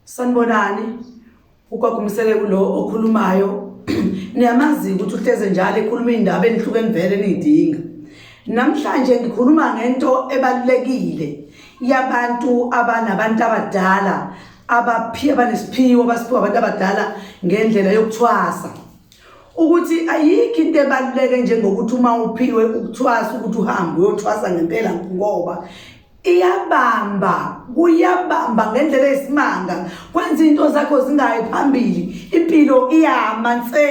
sanibonani ukwagumsele kulo okhulumayo niyamazi ukuthi uhleze njalo ekhuluma iy'ndaba enihluke nivele niyidinga namhlanje ngikhuluma ngento ebalulekile yabantu abanabantu abadala abaphi abanesiphiwo abasiphiwa abantu abadala ngendlela yokuthwasa ukuthi ayikho into ebaluleke njengokuthi uma uphiwe ukuthwasa ukuthi uhambe uyothwasa ngempela ngoba iyabamba kuyabamba ngendlela esimanga kwenza into zakho zingayi phambili impilo iyama nse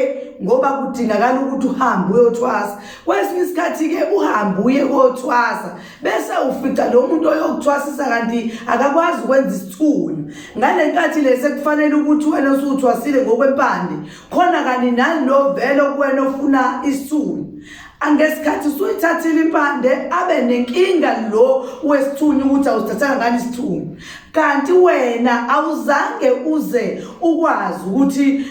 ngoba kudingakala ukuthi uhambe uyothwasa kwesinye isikhathi-ke uhambe uye kothwasa bese ufica lo muntu oyokuthwasisa kanti akakwazi ukwenza isithulu ngale nkathi lesi kufanele ukuthi wena usuthwasile ngokwempande khona kanti nani lo vele okuwena ofuna isithulu angesikhathi usuyithathile impande abe nenkinga lo wesithunywa ukuthi awusithathanga ngani isithunywa kanti wena awuzange uze ukwazi ukuthi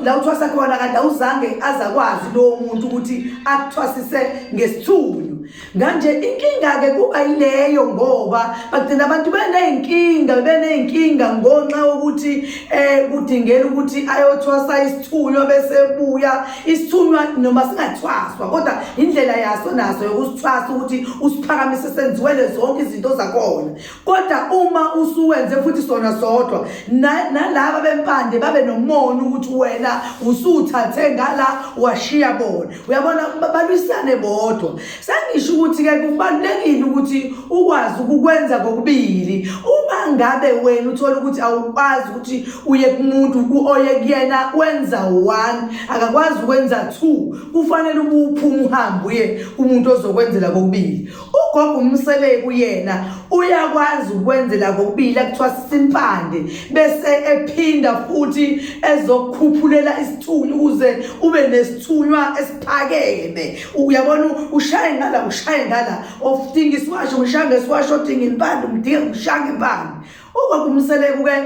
la uthwasa khona kanti awuzange azakwazi lowo muntu ukuthi akuthwasise ngesithunywa Kanje inkinga-ke kuba yileyo ngoba bagcina abantu beney'nkinga beney'nkinga ngonxa yokuthi um kudingela ukuthi ayothwasa isithunywa bese buya isithunywa noma singathwaswa kodwa indlela yaso naso yokusithwasa ukuthi usiphakamise senziwele zonke izinto zakhona kodwa uma usuwenze futhi sona sodwa nalaba bempande babe nomona ukuthi wena usuthathe ngala washiya bona uyabona balwisane bodwa sengisho ukuthi-ke kubalulekile ukuthi ukwazi ukukwenza kokubili uma ngabe wena uthole ukuthi awukwazi ukuthi uye kumuntu oye kuyena wenza one akakwazi ukwenza two kufanele ubuphuma uhambe uye kumuntu ozokwenzela kokubili ugogo umseleku yena uyakwazi ukwenzela kokubili akuthiwa sisimpande bese ephinda futhi ezokukhuphulela isithunyi ukuze ube nesithunywa esiphakeme uyabona ushaye ngala ushaye ngala ofudinga isiwasho ngishange isiwasho odinga impande umdinga ngishanga impande ugogo umseleku-ke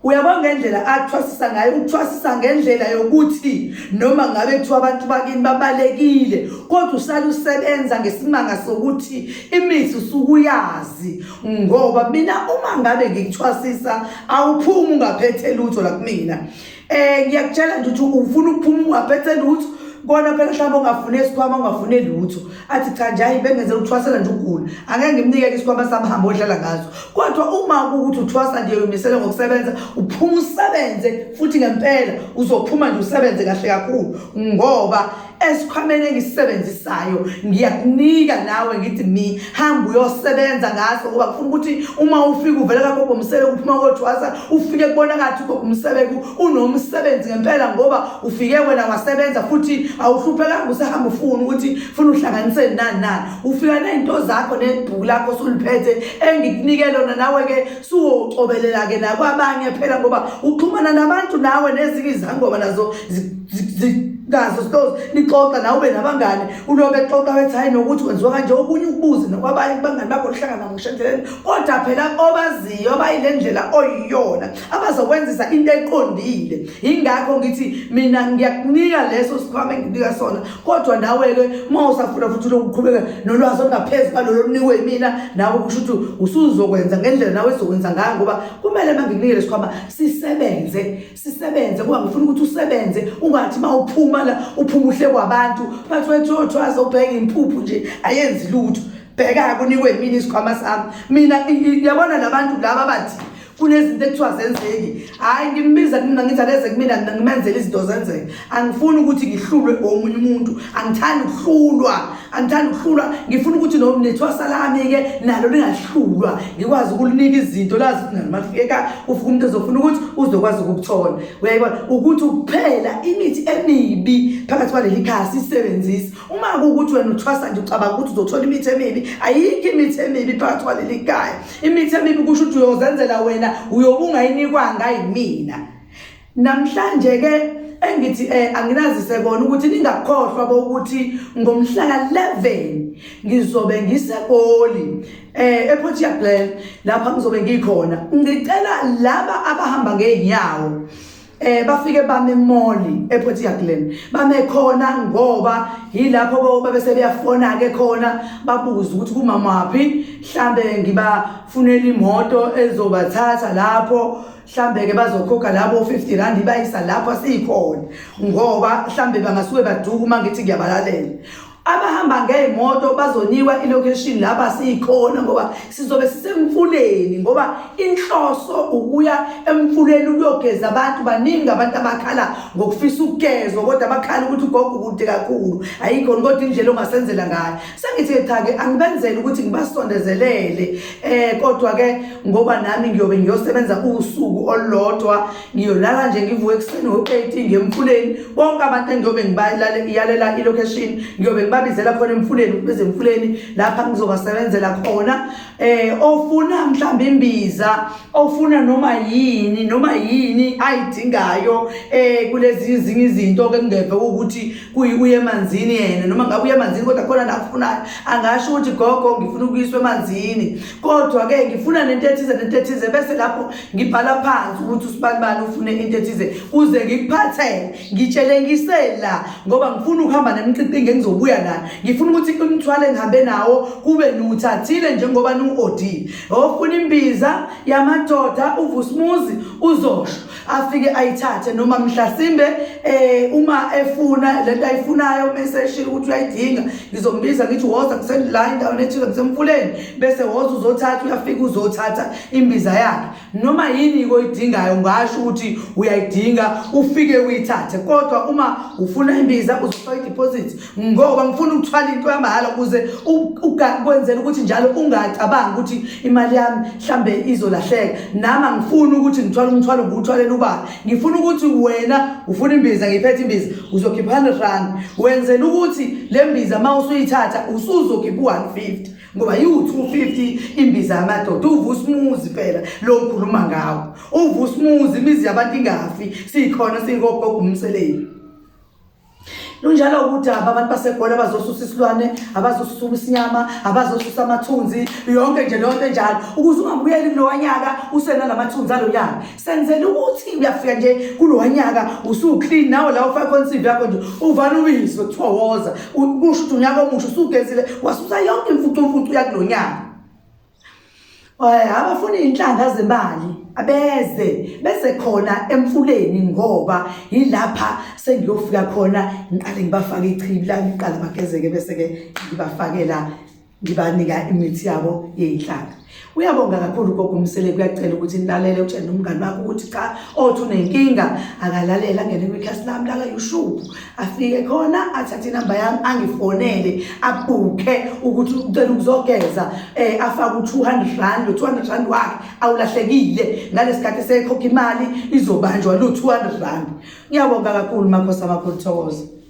Uyabona ngendlela athwasisa ngayo ukuthwasisa ngendlela yokuthi noma ngabe kuthiwa abantu bakini babalekile kodwa usale usebenza ngesimanga sokuthi imithi usukuyazi ngoba mina uma ngabe ngikuthwasisa awuphumi ungaphethe lutho la kumina eh ngiyakutshela nje ukuthi ufuna ukuphuma ungaphethe lutho kona phela mhlawumbe ongafune isikhwama ongafune lutho athi cha nje hayi bengenzela ukuthwasela nje ukugula angeke ngimnikele isikwama sami hambe odlala ngazo kodwa uma kuwukuthi uthwasa nje umisele ngokusebenza uphuma usebenze futhi ngempela uzophuma nje usebenze kahle kakhulu ngoba esikhwameni engisisebenzisayo ngiyakunika nawe ngithi mi hamba uyosebenza ngaso ngoba kufuna ukuthi uma ufika uvele kakho bomsebe kuphuma kothwasa ufike kubona kathi umsebenzi unomsebenzi ngempela ngoba ufike wena wasebenza futhi awuhluphekanga usahamba ufuna ukuthi funa uhlanganiseni nani nani ufika nezinto zakho nebhuku lakho suliphethe engikunike lona nawe-ke suwocobelela-ke nakwabanye phela ngoba uxhumana nabantu nawe nezinye izangoma nazo nazo stos nixoxa nawe ube nabangane ulobe xoxa wethi hayi nokuthi kwenziwa kanje okunye ukubuze nokwabanye kubangani bakho lihlangana ngoshenzeleni kodwa phela obaziyo abayile ndlela oyiyona abazokwenzisa into eqondile ingakho ngithi mina ngiyakunika leso sikhwama engikunika sona kodwa nawe-ke uma usafuna futhi lokuqhubeka nolwazi olungaphezu kwalolo lunikwe yimina nawe kusho ukuthi usuzokwenza ngendlela nawe ezokwenza ngayo ngoba kumele uma ngikunike lesikhwama sisebenze sisebenze kuba ngifuna ukuthi usebenze ungathi uma uphuma la uphuma uhle kwabantu bathi wethothwaze ubheke impuphu nje ayenzi lutho bheka-ke unikwe yimina isikhwama sami mina yabona labantu laba bathi kunezinto ekuthiwa zenzeki hhayi ngimbiza kumina ngithi akeze kumina mina ngimenzela izinto zenzeke angifuni ukuthi ngihlulwe omunye umuntu angithandi ukuhlulwa angithandi ukuhlulwa ngifuna ukuthi nethwasa lami-ke nalo lingahlulwa ngikwazi ukulinika izinto lazi ukuthi nalo mafika ufika umuntu ezofuna ukuthi uzokwazi ukukuthola uyayibona ukuthi ukuphela imithi emibi phakathi kwaleli khaya sisebenzise uma kuwukuthi wena uthwasa nje ucabanga ukuthi uzothola imithi emibi ayikho imithi emibi phakathi kwaleli kaya imithi emibi kusho ukuthi uyozenzela wena uyobe ungayinikwanga yimina namhlanje ke engithi eh anginazise kona ukuthi ningakhohlwa bokuthi ngomhla ka11 ngizobe ngisegoli eh ePort Shepland lapha ngizobe ngikhona ngicela laba abahamba ngeenyawo eh bafike bame moli ePort Yaglen bame khona ngoba yilapho boba bese beyafona ke khona babuza ukuthi kumama waphi mhlambe ngibafunela imoto ezobathatha lapho mhlambe ke bazokhokha labo 50 rand bayisa lapho sikhona ngoba mhlambe bangasuke baduka uma ngithi ngiyabalalela abahamba ngey'moto bazoniwa ilocation laba siyikhona ngoba sizobe sisemfuleni ngoba inhloso ukuya emfuleni ukuyogeza abantu baningi abantu abakhala ngokufisa ukugezwa kodwa bakhala ukuthi ugogo kude kakhulu ayikhona kodwa indlela ongasenzela ngayo sengithi-ke cha-ke angibenzele ukuthi ngibasondezelele um eh, kodwa-ke ngoba nami ngiyobe ngiyosebenza usuku olulodwa ngiyolala nje ngivuke ekuseni ngo-eight ngiye emfuleni bonke abantu engiyobe ngibayalela i-location ngiyobe ngibabizela khona emfuleni ukubiza emfuleni lapha ngizobasebenzela khona um ofuna mhlawumbe imbiza ofuna noma yini noma yini ayidingayo um kulezi ezinye izinto-ke kungeve ukuthi uye emanzini yena noma ngabe uye emanzini kodwa khona nakufunayo angasho ukuthi gogo ngifuna ukuyiswa emanzini kodwa-ke ngifuna nento ethize nento ethize bese lapho ngibhala phansi ukuthi usibanibani ufune into ethize kuze ngikuphathele ngitshele ngisela ngoba ngifuna ukuhamba nemqiqingi engizobuya nayo ngifuna ukuthi umthwalo engihambe nawo kube niwuthathile njengoba niwu-odile ofuna imbiza yamadoda uvusumuzi uzosho afike ayithathe noma mhlasimbe eh uma efuna lento ayifunayo bese eshilo ukuthi uyayidinga ngizombiza ngithi woza kusendiline ndawo ethile kusemfuleni bese woza uzothatha uyafika uzothatha imbiza yakhe noma yini oyidingayo ngasho ukuthi uyayidinga ufike uyithathe kodwa uma ufuna imbiza uzofa ideposit ngoba ngifuna ukuthwala into yamahhala ukuze ukwenzela ukuthi njalo ungacabangi ukuthi imali yami mhlambe izolahleka nami angifuni ukuthi ngithwale umthwalo ngiwuthwalela ubani ngifuna ukuthi wena ufuna imbiza ngiphethe imbiza uzokhipha 100 rand wenzela ukuthi le mbiza uma usuyithatha usuzokhipha u-150 ngoba yiwu-250 imbiza yamadoda uva usimuzi phela lo ngikhuluma ngawo uva usimuzi imizi yabantu ingafi siyikhona siyingogogo umseleni lunjalo udaba abantu basegoli abazosusa isilwane abazosusa ubisinyama abazosusa amathunzi yonke nje leyo nto enjalo ukuze ungabuyeli kulowa nyaka usenala mathunzi alo nyaka senzela ukuthi uyafika nje kulowa nyaka usuclean nawe la ufake khona isivi yakho nje uvale ubizwe kuthiwa woza kusho ukuthi unyaka omusha usugezile wasusa yonke imfucumfucu yakulo nyaka abafuna iy'nhlanga zemali abeze bese khona emfuleni ngoba yilapha sengiyofika khona ngiqale ngibafake ichibi la ngiqala bagezeke bese-ke ngibafakela ngibanika imithi yabo yey'nhlanga uyabonga kakhulu gogo umsele kuyacela ukuthi nilalele utshele nomngani wakho ukuthi cha othi unenkinga akalalela ngene kwikhasi lami laka-youtube afike khona athathe inamba yami angifonele abhukhe ukuthi ucela ukuzogeza eh afaka u200 rand lo200 rand wakhe awulahlekile ngalesikhathi sekhokha imali izobanjwa lo200 rand ngiyabonga kakhulu makhosi amakhulu thokoza